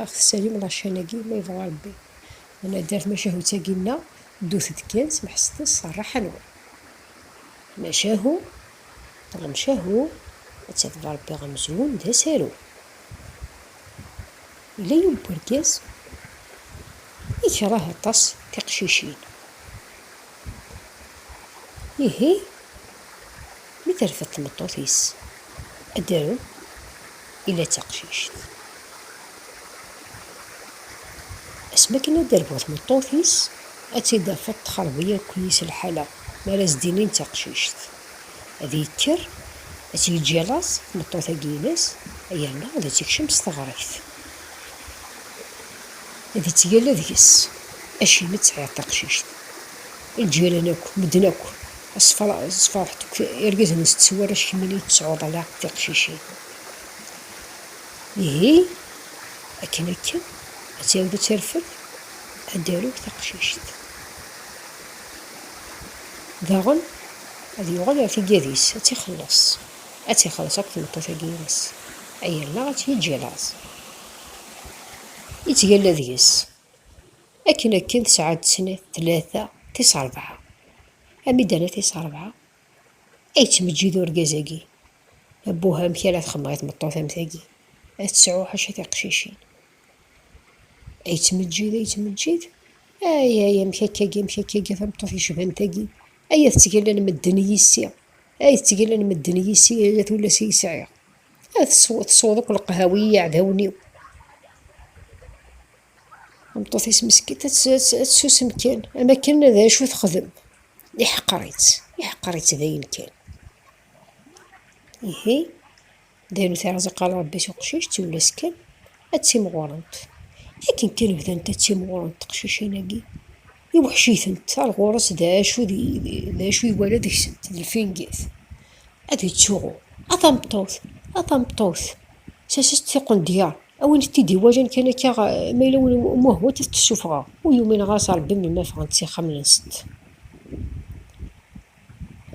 Aɣ tessalim laččan-agi ma yebɣa Rebbi. D naddar tmacahut-agi nneɣ, ddut-d kan semḥeset-as s rraḥa-nwen. Tmacahu, Lemcahu, ad tadef ɣer Rebbi amezrun d asaru. Yella yiwen n urgaz ikreh aṭas tiqcicin. Ihi, mi terfed tmeṭṭut-is adrum, yella d taqcict. Asmi akken ad d-terbu tmeṭṭut-is, ad tt-id-tafeḍ texreb-iyi akk yis lḥala, mi ara as-d-inin d taqcict. Ad yekker, ad tt-yeǧǧ i laẓ, tmeṭṭut-agi-ines, yerna ad tt-ikcem s teɣribt. Ad ittgalla deg-s, acimi tesɛiḍ taqcict? Lǧiran akk, medden akk, sferḥet akk irgazen n setti warrac, kemm i yi-d-tesɛuḍ ala tiqcicin. Ihi, akken akken, ad tɛiwed ad terfed, ad d-tarew taqcict. Daɣen, ad yuɣal ɣer tiggad-is, ad tt-ixelleṣ, ad tt-ixelleṣ akk tmeṭṭut-agi-ines, ay allaɣ ad tt-yeǧǧ i laẓ. Yettgalla deg-s, akken akken tesɛa-d snat, tlata, tis rebɛa. Ami d-terna tis rebɛa, ad yettmeǧǧid urgaz-agi, Abbuh, amek ara txemmeɣ i tmeṭṭut am tagi, ad tesɛu ḥaca tiqcicin. Ay ttmeǧǧid, ay ttmeǧǧid. Ay, ay, amek akkagi, amek akkagi, tameṭṭut yecban tagi. Ay, ad ttgellen medden i yissi. Ay, ttgellen medden i yissi, ay, at ulas i yesɛiɣ. Ay, tesweḍ akk leqhawi i yiɛdawen-iw. Tameṭṭut-is meskint ad tsusem kan, am akken d acu texdem. Iḥqer-itt, iḥqer-itt dayen kan. Ihi, Daru tiɛẓiqa n Ṛebbi tuqcict tullas kan ad ttimɣurent. Akken kan bdant ad ttimɣurent teqcicin-agi, iweḥc-itent, ar ɣur-s d acu d acu iwala deg-sent, d lfingit. Ad ittuɣu, a tameṭṭut, a tameṭṭut, sas-as-d tiqendyar, a win t-id-iwalan kan akka, ma yella win umuhwent ad t-ssufɣeɣ. Ur yumin ɣer-s Ṛebbi melmi ara ffɣent s ixxamen-nsent.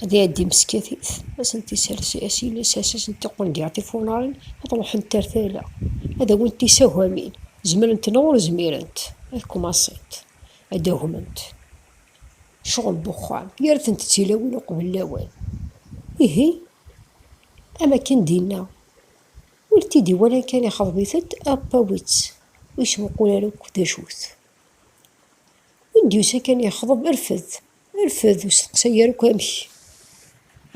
Ad iɛeddi meskatit, ad asent-isers asiles, ad asent iqundiɛ tifunarin, ad ruḥent ar tala, ad awint isagamin, zemrent neɣ ur zmirent, ad kumasent, ad agment, cɣel n uxxam, gar-tent d tilawin uqbel lawan. Ihi, am akken d-inna, win t-id-iwalan kan ixḍeb-it-ed, app awi-tt, ur yesmuqul ara akk d acu-t. Win d-yusan kan yexḍeb, rfed. Rfed ur steqsay ara akk amek.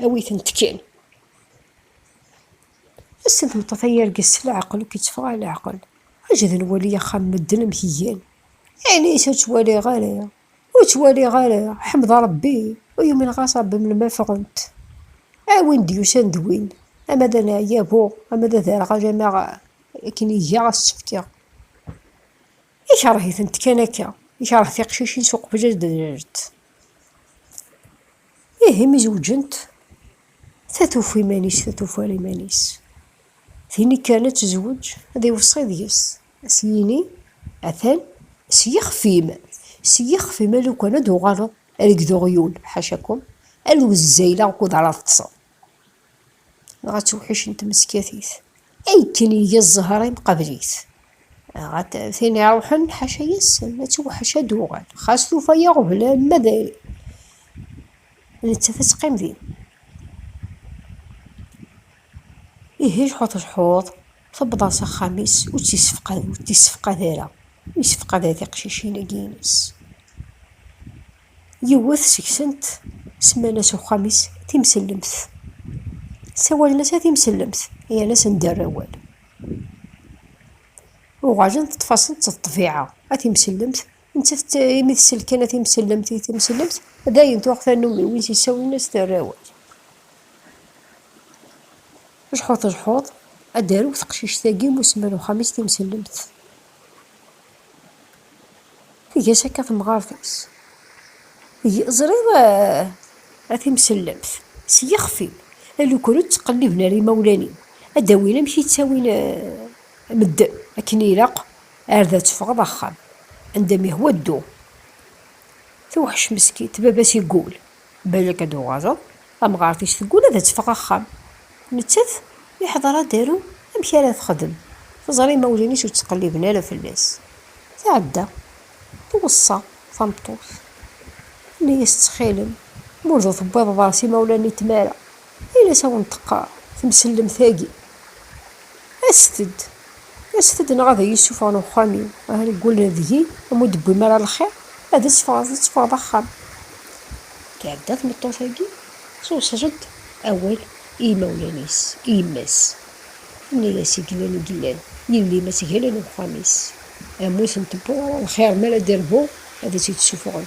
Awi-tent kan. Ass n tmeṭṭut ay argaz s leɛqel ur k-itteffeɣ ara leɛqel. Aǧǧet ad nwali axxam n medden amek igan. Ini-as ur ttwaliɣ ara, ur ttwaliɣ ara, ḥmed Rebbi, ur yumin ɣas Rebbi melmi ffɣent. A win d-yusan d win, ama d aneɛyabu, ama d aderɣal, ama akken iga ad s-tt-fkeɣ. Ikerh-itent kan akka, ikerh tiqcicin s uqbel ad d-rrent. Ihi mi zewǧent, ta tuf iman-is, ta tufa iman-is. Tin ikkren ad tezweǧ, ad iweṣṣi deg-s, ad s-yini, atan s yixef-im, s yixef-im alukan ad d-tuɣaleḍ, err deg uɣyul, ḥaca-kum, ad wezzayleɣ ukud ara teṭṭseḍ. Dɣa tewḥic n tmeskatit. Akken iga zzher imqabel-it. Dɣa tin iruḥen ḥaca yes-sen, ad tewḥec ad d-uɣal. Xas tufa iɣeblan ma d nettat ad teqqim din. Ihi jḥuḍ jḥuḍ, tewweḍ-as axxam-is ur tt-yessefqad, ur t-yessefqad ara. Ur yessefqad ara tiqcicin-agi-ines. Yiwet seg-sent semman-as uxxam-is Timsellemt. Sawalen-as a Timsellemt, yerna-asen dderr awal. Uɣalen teṭṭef-asen d ṭṭbiɛa a Timsellemt, nettat imi tsell kan a Timsellemt i Timsellemt, dayen tuɣ tannumi win s-yessawlen-as terr awal. Jḥuḍ jḥuḍ, ad d-tarew teqcict-agi musemman uxxam-is Timsellemt. Tga-s akka temɣart-is. Ẓriɣ a timsellemt, s yixef-im, alukur ur ttqelliben ara imawlan-im, ad d-awin amek i ttawin medden, akken ilaq ar da teffɣeḍ axxam, anda m-ihwa ddu. Tewḥec meskint, baba-s igul, Balak ad d-tuɣaleḍ, tamɣart-ik teggul ad d-teffeɣ axxam. Nettat, yeḥḍer adaru amek ara texdem, teẓra imawlan-is ur ttqelliben ara fell-as. Tɛedda, tweṣṣa tameṭṭut, tenna-as ttxil-m, ma ur d-tewwiḍeḍ ɣer s imawlan-nni n tmara, Ayen i s-awen-d-teqqar temsellemt-agi, Aset-d, aset-d neɣ ad iyi-ssufɣen uxxam-iw, aha reggel deg-i, am ur d-tewwim ara lxir, ad tt-teffɣeḍ, ad teffɣeḍ axxam. Tɛedda tmeṭṭut-agi, tuṣel-d awal i yimawlan-is, i yemma-s, tenna-yas i Gellal i Gellal, yelli-m ad t-galen uxxam-is, am ur tent-tewwiḍ ara lxir mi ara d-irbu ad tt-id-ssufɣen.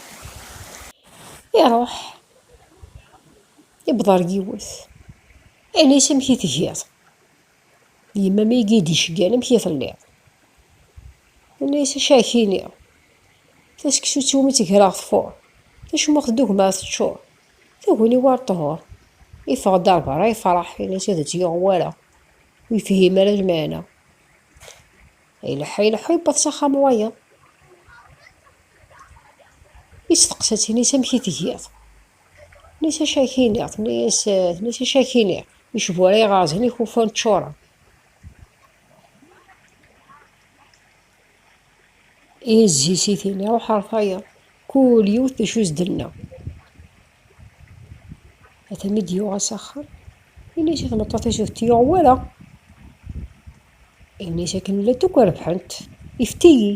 Iruḥ, iwweḍ ar yiwet, ini-as amek i tgiḍ. Yemma mi i d-iceggan amek i telliḍ. Ini-as acakini, taseksut iwumi tt-greɣ tfuṛ, tacmuxt dugma teččuṛ, taguni war ṭhur. Iffeɣ-d ar berra yefṛeḥ, ini-as ad tt-yuɣ wara, ur yefhim ara lmeɛna. Ileḥḥu ileḥḥu yewweḍ s axxam wayeḍ. Yesteqsa-tt ini-s amek i tgiḍ. Ini-s acu ak iniɣ, tenna-yas tenna-yas acu ak iniɣ, icbura iɣerzen ikufan ččuren. Izzi-s i tini ruḥ ar tayeḍ, kul yiwet d acu i s-d-tenna. Atan mi d-yuɣa s axxam, ini-s i tmeṭṭut-is ur t-yuɣ wara. Ini-as akken llant akk rebḥent, ifet-iyi.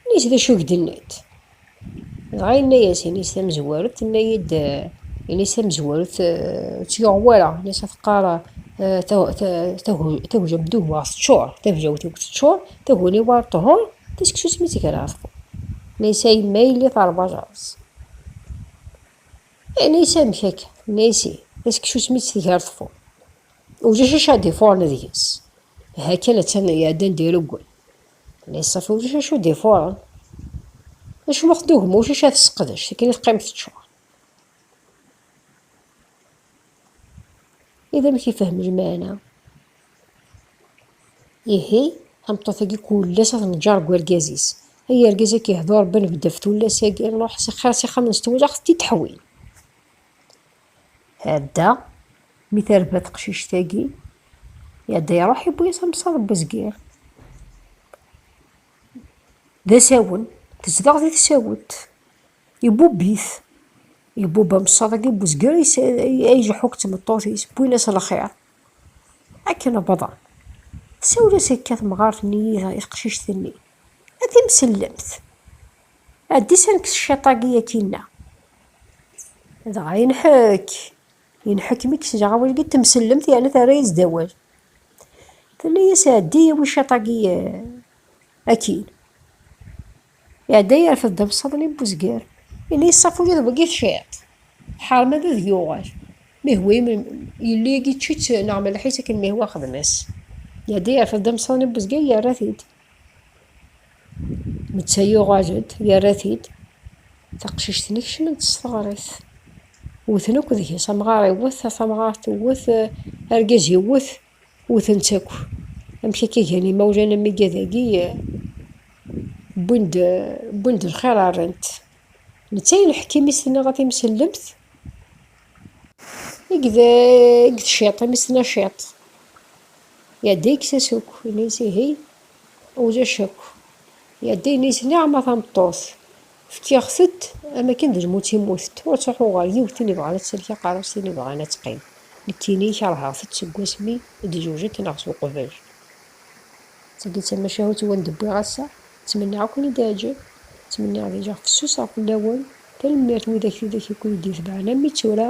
Ini-as d acu i k-d-nnant. Dɣa yenna-as, ini-as tamezwarut, tenna-yi-d, ini-as tamezwarut ur tt-yuɣ wara, ini-as ad teqqar tagja n dduhwa teččur, tagejawt-iw teččur, taguni-w ar ṭhur, taseksut mi tt-ger ɣef ṭhur. Ini-as a yemma yelli terba ajerreẓ. Ini-as amek akka, ini-as ih, taseksut mi tt-tger ṭhur. Ulac acu ara d-ifuṛen deg-s. Aha kan attan iɛedda anda ireggel. Liṣaf ulac acu d-ifuṛen. Acimi ur tdugem ulac acu ara tesseqdec, akken i teqqim teččuṛ. I d amek ifehhem lmeɛna? Ihi, tameṭṭut-agi kullas ad neǧǧer deg urgaz-is. Ay argaz ad k-ihdu Ṛebbi nebded ɣef tullas-agi, ṛuḥ xir s ixxamen s tewlax, tettiṭeḥwin. Tɛedda, mi terba teqcict-agi, iɛedda iruḥ iwwi-yas amsaḍ n wezgir. D asawen, tezdeɣ di tsawet, ibubb-it, ibubb amsaḍ-agi n wezgir ay ileḥḥu akked tmeṭṭut-is, wwin-as lxir. Akken wwḍen, tsawel-as akka temɣart-nni i teqcict-nni, a timsellemt! Ɛeddi-s ad nekkes cciṭ-agi akkinna. Dɣa yenḥek, yenḥek mi kkes jaɣ awal-agi d temsellemt yerna terra-yas-d awal. Tenna-yas ɛeddi awi cciṭ-agi akkin. Iɛedda yerfed-d amsaḍ-nni n uzger. Ini yeṣṣafu di tbegit ciṭ. Ḥeṛṛem ad ad yuɣal. Mihwa yelli-agi ičči-tt neɣ melleḥ-itt akken mihwa xdem-as. Iɛedda yerfed-d amsaḍ-nni n uzger yerra-t-id. netta yuɣal-d yerra-t-id taqcict-nni kecment s teɣrit wten akk deg-s amɣar iwwet a tamɣart iwwet argaz iwwet wten-tt akk amek akka gan imawlan am iga dagi wwin-d wwin-d lxir rran-t netta yelḥek imi s-tenna ɣef imsellemt i ged i ged ciṭ imi s-tenna ciṭ Ya d ikes-as akk, ini-as ihi, ulac akk. Ya d ini-as niɛma tameṭṭut, fkiɣ-t-ed am akken d lmut i mmutet, ur ttruḥuɣ ɣer yiwet tin ibɣan ad tsellek aqerru-s tin ibɣan ad teqqim. Nekkini kerheɣ-t-ed seg wasmi i d-jewjent neɣ s uqbel. D tagi d tamacahut i wen-d-wwiɣ ass-a, ttmenniɣ ad ken-id-iɛǧeb, ttmenniɣ ad iliɣ fessuseɣ fell-awen. Tanemmirt widak tidak i ken-id-itebɛen am mi d tura,